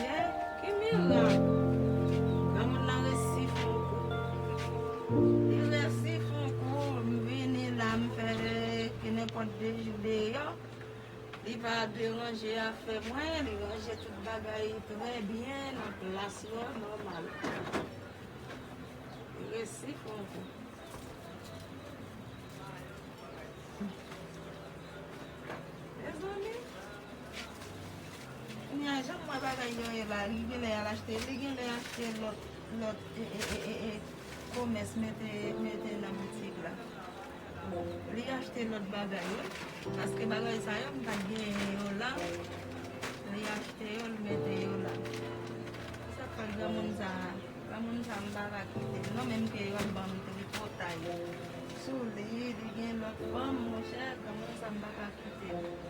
Yeh ki mirak granmoun nan resi fon kou. Li resi fon kou m vini la m fè ke nenpòt 2 jou deyò li pa deranje afè mwen li ranje tout bagay trè byen nan plas yo nòmal li resi fon kou. Mezanmi. Kounya janm wè bagay yo ye la li genlè al achte li genlè achte lòt lòt ee komès mete mete nan boutik la li achte lòt bagay wi paske bagay sa yo m pat genyen yo la li achte yo l mete yo la se sak fè granmoun sa granmoun sa m paka kite l non menm ke yo ap banm tripotay sou li li gen lòt fanm monchè granmoun sa m paka kite l.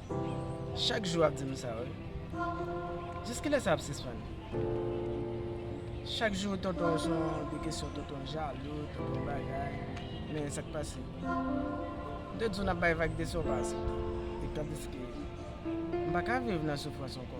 Chak jou ap di m sa wi. Jiskilè sa ap sispann? Chak jou tonton se yon de kesyon, tonton jalou, tonton bagay. Men sa k pase? M te di w n ap bay vag de sa w pa asepte. Etan pliske m pa ka viv nan soufrans ankò.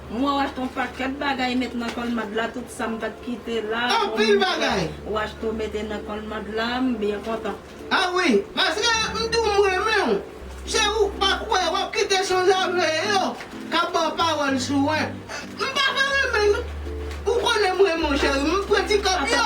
Mwen wach ton paket bagay met nan kolmad la tout sam pat kite la Anpil bagay. Mwen wach to mete nan kolmad la m byen kontan. Ah oui paske m tou m renmenw se ou k pa kwè wap kite sanzave yo kap baw pawòl sou wen m paka renmen nou ou konnen m renmenw cheri m pran ti kòb yo.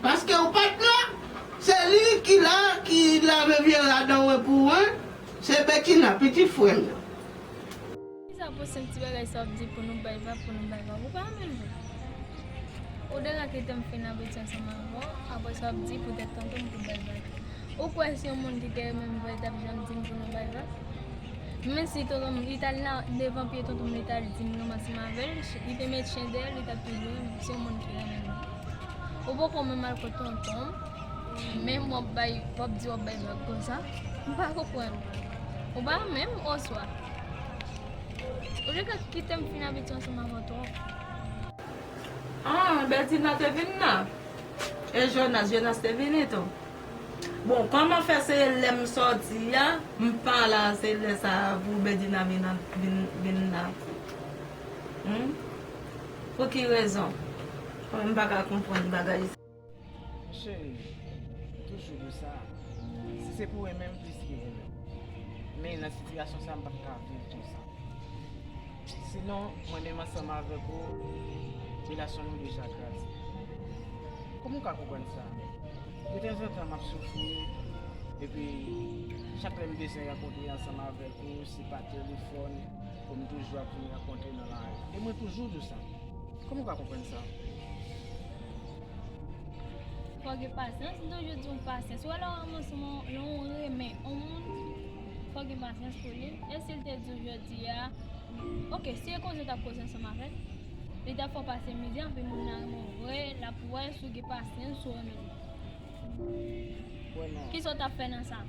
Paske ou pat la, se li ki la ki lave vye rad an wen pou wen, se Betina, pitit frè m nan. Kisa pou sen ti bagay sa w ap di pou nou bay va, pou nou bay va? Ou pa renmen l vre? Ou deja kite m fin abitye ansanm avè w, apre sa w ap di poutèt tonton m pou bay va tou. Ou kwè si yon moun ki te renmen m vrè t ap janm di m pou nou bay va? Men si tonton m, li t al nan devan pye tonton m li t al di m ranmase m avè l, li te met chen dèyè l, li t ap toujou renmen m, si yon moun ki renmen m vrè. Ou poko menm al kot tonton w menm wap bay wap di wap bay vag konsa m pa konprann ou pa menm oswa ou te ka kite m fin abitye ansanm avè w twòp. An, Bètina te vin nan? E Jonas, Jonas te vini tou? Bon, kòman fè se lè m sòti a m pa la se lè sa a pou Bètina vin vin nan? Hum? Pou ki rezon? Kòman m pa ka konprann bagay sa? Cheri, toujou di w sa, si se pou renmen m plis ke vole. Men nan sitiyasyon sa a m pa t ka viv konsa. Sinon, mwen menm ansanm avèk ou, relasyon nou deja kraze. Kòman w ka konprann sa? Detanzantan m ap soufri, epi chak lè m bezwen rankontre ansanm avèk ou, se pa telefòn. Ke m toujou ap vin rankontre nan lari. E mwen toujou di w sa. Kòman w ka konprann sa? Fò w gen pasyans. M toujou di w pasyans. Ou wè lè w ranmans on, lè w renmen on moun, fò w gen pasyans pou li. E si l te di w jodi a, ok, si e koze w t ap koze ansanm avè l, li t ap fè w pase mizè anpi moun nan renmen w vre, l ap wè si w gen pasyans, si w renmen li. Kisa ou tap fè nan sa?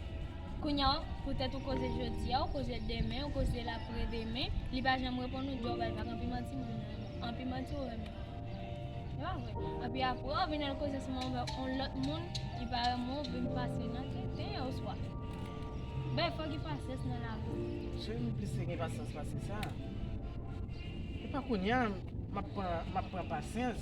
Kounya w, poutèt ou koze jodi a, ou koze demen, ou koze lapre demen, li pa janm reponn ou, di w bay vag, anpi manti moun nan renmen. Anpi manti ou renmen. Se pa vre. Anpi apre ou vin al koze sou manman w yon lòt moun, li pa renmen w, vin pase nan tenten yo oswa. Bèy, fò w gen pasyans nan lavi. Cheri m plis gen pasyans pase sa. Epa kounya map pran pasyans.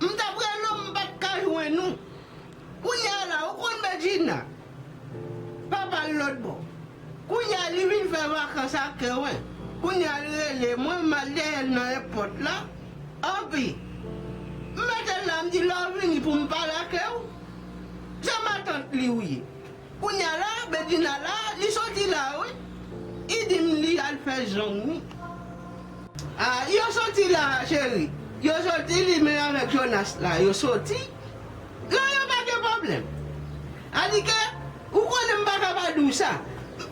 M t ap rele w m pat ka jwenn ou Kounya la ou konn Bedjina Papa l lotbò Kounya li vin fè vakans ak Kerwen Kounya l rele mwen m al dèyè l nan èpòt la Anpi m mete l la m di lè w vini pou m pale ake w Se matant li ou ye Kounya la bedjina la li soti la wi i dim li al fè jong wi ah yo soti la cheri yo soti li menm avèk jonas la yo soti la yo pa gen problèm anike ou konnen m paka pa diw sa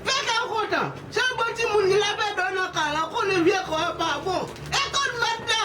fè kèw kontan se yon bon timoun li la pè do nan kay la ou konnen vye kò a pa bon e konn mèt la.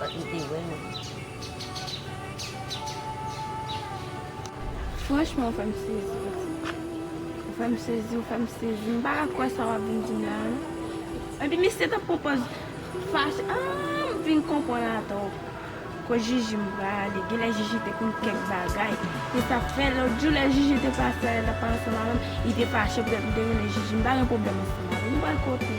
Bat li te wè nou. Franchman ou fèm sezi pitit. Ou fèm sezi ou fèm sezi m pa ka kwè sa wap vin dim la non. Epi misye tap pran pòz fache aah m vin konprann atò kot Jiji m prale genlè Jiji te konn kèk bagay se sak fè lòt jou lè Jiji te pase a lè l tap pale ansanm avèm li te fache poutèt m te rele Jiji m pa gen pwoblèm ansanm avèl nou pral kote.